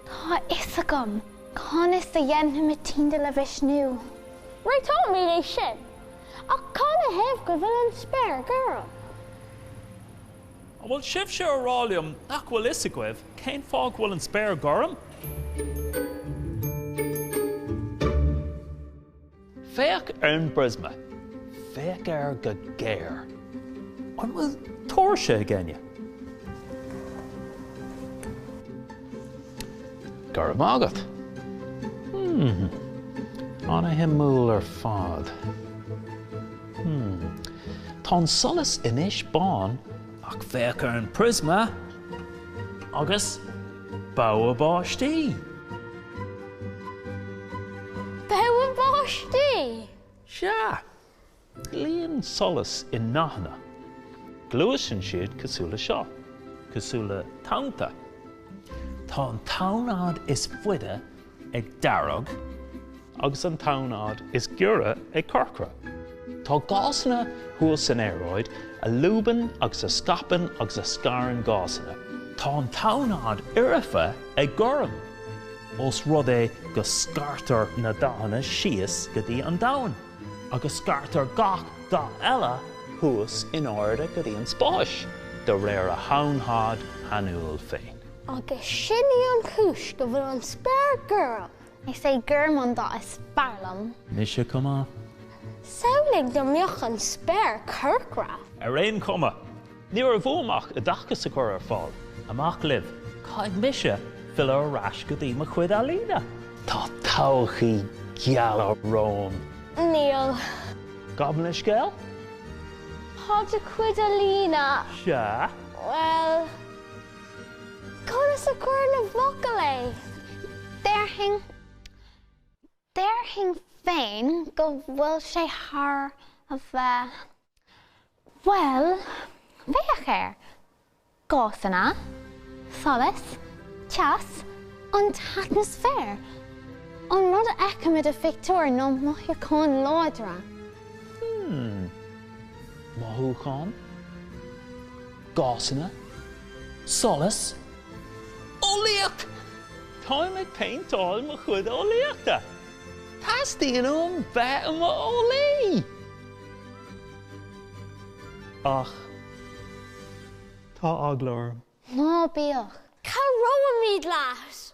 Tá a fhios agam conas a dhéanfaidh mé Tyndall a mhisniú. Réiteoimid é sin. Ach cad ina thaobh go bhfuil an spéir gorm? An bhfuil sibhse a rá liom nach bhfuil a fhios agaibh cén fáth go bhfuil an spéir gorm? Féach ar an bpriosma. Féach air go géar. An bhfuil tóirse ag éinne? Go raibh maith agat. Hmm. An-shuimiúil ar fad. Hmm. Tá an solas anois bán ach féach ar an bpriosma agus. Bogha báistí! Bogha báistí! Sea! Luíonn solas i ndathanna. Gluaiseann siad cosúil le seo, cosúil le tonnta. Tá an tonnfhad is faide ag dearg agus an tonnfhad is giorra ag corcra. Tá gásanna thuas san aeráid a lúbann agus a scaipeann agus a scarann gásanna. Tá an tonnfhad foirfe ag gorm, ós rud é go scartar na dathanna síos go dtí an Domhan, agus scartar gach dath eile thuas in airde go dtí an spáis, de réir a thonnfhad shainiúil féin. Agus sin í an chúis go bhfuil an spéir gorm. Is é gorm an dath is fearr liom. Mise chomh maith. Samhlaigh dá mbeadh an spéir corcra! Ar aon chuma, ní raibh uaim ach oideachas a chur ar fáil. Amach libh, caithfidh mise filleadh ar ais go dtí mo chuid ealaíne. Tá todhchaí gheal romham. Níl. Gabh mo leithscéal? Tá do chuid ealaíne. Sea? Bhuel. Conas a chuirfinn i bhfocail é? Déarfainn, déarfainn féin go bhfuil sé thar a bheith, bhuel, féach air, gásanna, solas, teas, an t-atmaisféar, an rud a fheicimid i do phictiúir ná mothúcháin láidre. Hmm. Mothúcháin? Gásanna? Solas? Eolaíocht? Táim ag péinteáil mo chuid eolaíochta. Teastaíonn uaim bheith i mo eolaí! Ach tá eagla orm. Ná bíodh. Cabhróimid leat!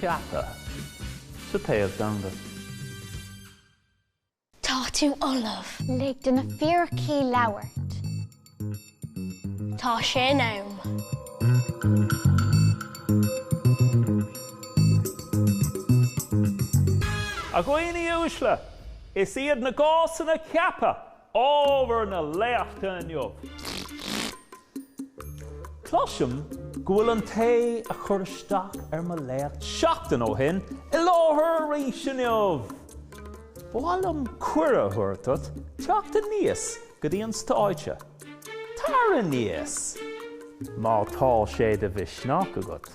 pheaca sa taobh-theanga. Tá tú ullamh. Lig do na fíricí labhairt. Tá sé in am. A dhaoine uaisle, is iad na gásanna ceaptha Ábhar na léachta inniu. Cloisim go bhfuil an té a chuir isteach ar mo léacht seachtain ó shin i láthair arís inniu! Ba mhaith liom cuireadh a thabhairt duit teacht aníos go dtí an stáitse. Tar aníos! Má tá sé de mhisneach agat.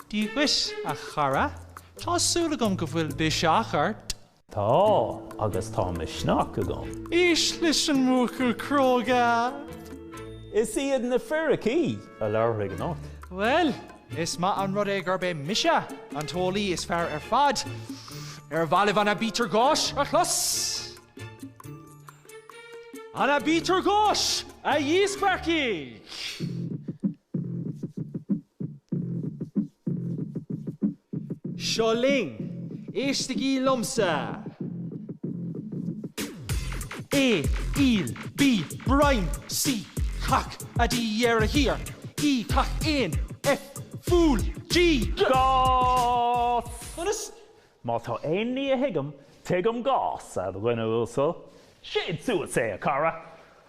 Dia duit, a chara. Tá súil agam go bhfuil biseach ort. Tá, agus tá misneach agam. Éist leis an mbuachaill cróga. Is iad na fíricí a labharfaidh anocht. Bhuel, is maith an rud é gurb é mise an t-eolaí is fearr ar fad. Ar mhaith libh an Aibítir Gháis a chlos? An Aibítir Gháis, a dhíspeagfaidh! Seo linn, éistigí liomsa! A, aol, B, broim, C, cac, A, D, ar a thír, E, cac éin, F, fual, G, gás! Conas? Má tá aon ní a thuigim, tuigim gás, a dhuine uasail. Séid suas é, a chara!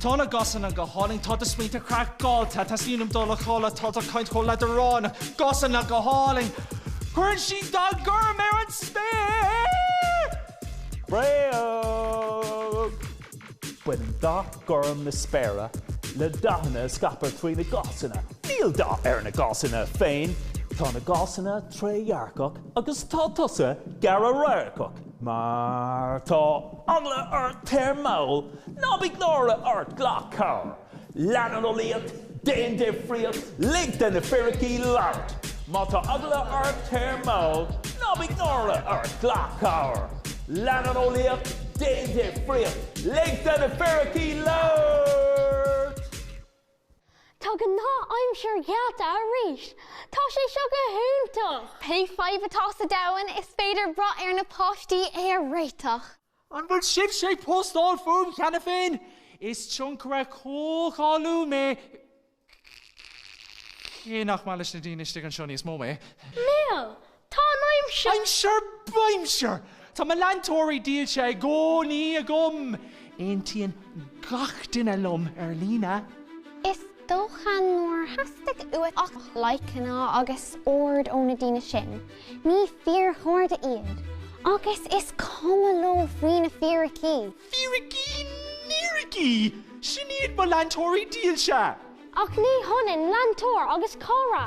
Tá na gásanna go hálainn, tá do smaointe craiceáilte, teastaíonn uaim dul a chodladh, tá do chaint chomh leadránach. Gásanna go hálainn! Cuireann siad dath gorm ar an spéir! Bréag! Baineann dath gorm na spéire le dathanna a scaiptear trí na gásanna. Níl dath ar na gásanna féin. Tá na gásanna trédhearcach agus tá tusa gearr-radharcach. Má tá eagla ort, téir mall, ná bíodh náire ort, glac cabhair, lean an eolaíocht, déan difríocht, lig do na fíricí labhairt. Má tá eagla ort, téir mall, ná bíodh náire ort, glac cabhair, lean an eolaíocht, déan difríocht, lig do na fíricí labhairt. Tá gnáth-aimsir geallta arís! Tá sé seo go hiontach! Pé fadhb atá sa domhan, is féidir brath ar na páistí é a réiteach. An bhfuil sibhse ag postáil fúm cheana féin? Is tionchaire comhcháiliúil mé, cé nach maith leis na daoine istigh anseo níos mó mé. Leo, Tá an aimsir. Aimsir, b'aimsir! Tá mo leantóirí dílse i gcónaí agam. Aontaíonn gach duine liom ar líne. Is dócha nár theastaigh uait ach laidhceanna agus aird ó na daoine sin. Ní fíorchairde iad. Agus is cuma leo faoi na fíricí. Fíricí, níricí! Sin iad mo leantóirí dílse! Ach ní hionann leantóir agus cara.